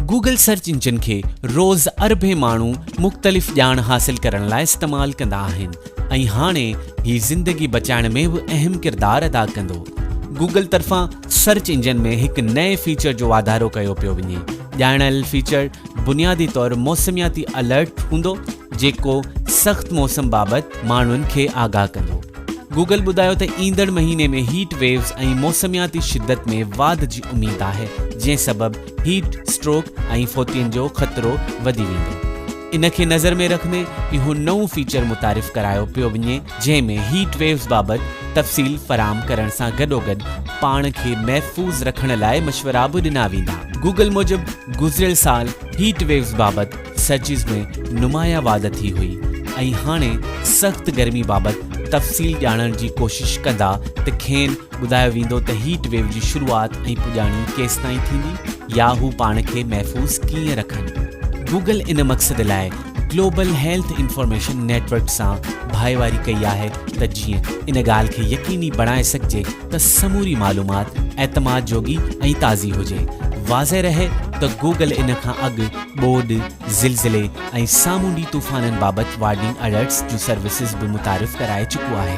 Google search engine کي روز اربين ماڻهو مختلف ڄاڻ حاصل ڪرڻ لاء استعمال ڪندا آهن ۽ هاڻي هي زندگي بچائڻ ۾ به اهم ڪردار ادا ڪندو. گوگل طرفان سرچ انجن ۾ هڪ نئين فيچر جو واڌارو ڪيو پيو وڃي. ڄاڻايل فيچر بنيادي طور موسمياتي الرٽ هوندو. جيڪو سخت موسم بابت ماڻهن کي آگاهه ڪندو. گوگل ٻڌايو ته ايندڙ مهيني ۾ هيٽ ويوز ۽ موسمياتي شدت ۾ واڌ جي اميد آهي، جنهن سبب هيٽ اسٽروڪ ۽ فوتين جو خطرو وڌي ويندو. ان کي نظر ۾ رکندي اهو نئون فيچر متعارف ڪرايو پيو وڃي، جنهن ۾ هيٽ ويوز بابت تفصيل فراهم ڪرڻ سان گڏوگڏ پاڻ کي محفوظ رکڻ لاء مشورا به ڏنا ويندا. گوگل موجب گذريل سال هيٽ ويوز بابت سرچيز ۾ نمايان واڌ ٿي هئي ۽ هاڻي سخت گرمي بابت تفصيل ڄاڻڻ جي ڪوشش ڪندا ته کين ٻڌايو ويندو ته هيٽ ويو جي شروعات ۽ پڄاڻي ڪيستائين ٿيندي يا هو پاڻ کي محفوظ ڪيئن رکن. گوگل ان مقصد لاء global health information network سان ڀائيواري ڪئي آهي ته جيئن ان ڳالهه کي يقيني بڻائي سگهجي ته سموري معلومات اعتماد جوڳي ۽ تازي هجي. واضح رهي ته گوگل ان کان اڳ ٻوڏ، زلزلي ۽ سامونڊي طوفانن بابت وارننگ الرٽس جون سروسز به متعارف ڪرائي چڪو آهي.